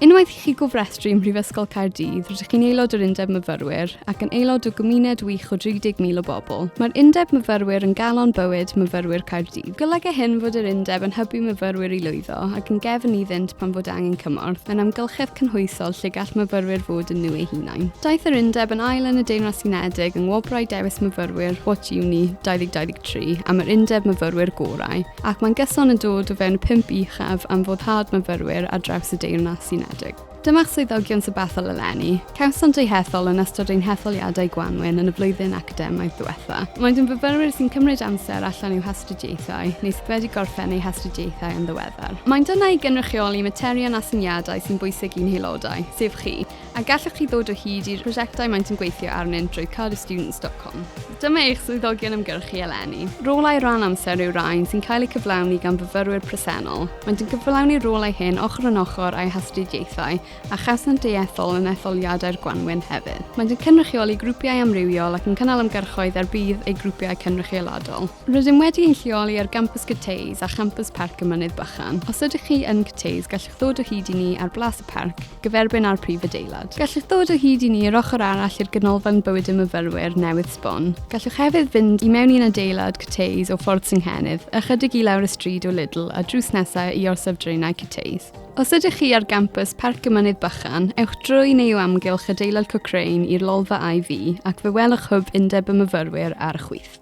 Unwaith i chi gofrestru ym Mhrifysgol Caerdydd, rydych chi'n aelod o'r Undeb Myfyrwyr ac yn aelod o gymuned wych o 30,000 o bobl. Mae'r Undeb Myfyrwyr yn galon bywyd myfyrwyr Caerdydd. Golyga hyn fod yr Undeb yn hybu myfyrwyr i lwyddo ac yn gefn iddynt pan fod angen cymorth, mae'n amgylchedd cynhwysol lle gall myfyrwyr fod yn nhw eu hunain. Daeth yr Undeb yn ail yn y Deyrnas Unedig yng Ngwobrau Dewis Myfyrwyr What Uni 2023 am yr Undeb Myfyrwyr Gorau. Ac mae'n gyson yn dod o fewn pump uchaf am foddhad myfyrwyr ar draws y Deyrnas Unedig. Dyma'ch swyddogion sybethol eleni. Cawsant eu hethol yn ystod ein hetholiadau gwanwyn yn y flwyddyn academaidd ddiwetha'. Maent yn fyfyrwyr sy'n cymryd amser allan i'w hastudiaethau neu sydd wedi gorffen eu hastudiaethau yn ddiweddar. Maent yna i gynrychioli materion a syniadau sy'n bwysig i'n haelodau, sef chi. A gallwch chi ddod o hyd i'r prosiectau maent yn gweithio arnynt drwy carystudents.com. Dyma eich swyddogion ymgyrchu eleni. Rolau rhan amser yw rhain sy'n cael eu cyflawni gan fyfyrwyr presennol. Maent yn cyflawni'r rolau hyn ochr yn ochr â'u hastudiaethau a chawsant eu ethol yn etholiadau'r gwanwyn hefyd. Maent yn cynrychioli grwpiau amrywiol ac yn cynnal ymgyrchoedd er budd eu grwpiau cynrychioladol. Rydym wedi ein lleoli ar Gampws Cyteis a Champws Parc y Mynydd Bychan. Os ydych chi yn Cyteis, gallwch ddod o hyd i ni ar Blas y Parc, gyferbyn â'r prif adeilad. Gallwch ddod o hyd i ni yr ochr arall i'r Ganolfan Bywyd y Myfyrwyr newydd sbon. Gallwch hefyd fynd i mewn i'n adeilad Cyteis o Ffordd Synghennydd, ychydig i lawr y stryd o Lidl a drws nesaf i Orsaf Draenau Cyteis. Os ydych chi ar Gampws Parc y Mynydd Bychan, ewch drwy neu o amgylch adeilad Cochrane i'r Lolfa IV ac fe welwch hwb Undeb y Myfyrwyr ar y chwith.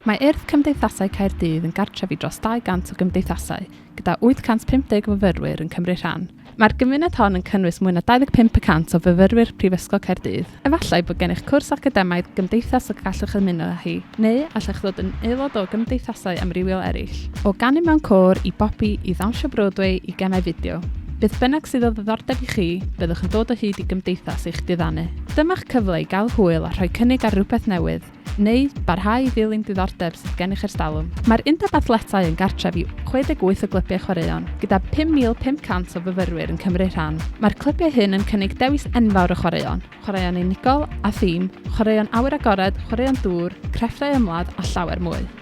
Mae Urdd Cymdeithasau Caerdydd yn gartref i dros 200 o gymdeithasau, gyda 850 o fyfyrwyr yn cymryd rhan. Mae'r gymuned hon yn cynnwys mwy na 25 y cant o fyfyrwyr Prifysgol Caerdydd. Efallai bod gennych cwrs academaidd gymdeithas y gallwch ymuno â hi, neu allech ddod yn aelod o gymdeithasau amrywiol eraill. O ganu mewn côr, i bopi, i ddawnsio Broadway, i gemau fideo. Beth bynnag sydd o ddiddordeb i chi, byddwch yn dod o hyd i gymdeithas eich diddanu. Dyma'ch cyfle i gael hwyl a rhoi cynnig ar rywbeth newydd, neu barhau i ddilyn diddordeb sydd gennych erstalwm. Mae'r Undeb Athletau yn gartref i 68 o glybiau chwaraeon, gyda 5,500 o fyfyrwyr yn cymryd rhan. Mae'r clybiau hyn yn cynnig dewis enfawr o chwaraeon, chwaraeon unigol a thîm, chwaraeon awyr agored, chwaraeon dŵr, crefftau ymladd a llawer mwy.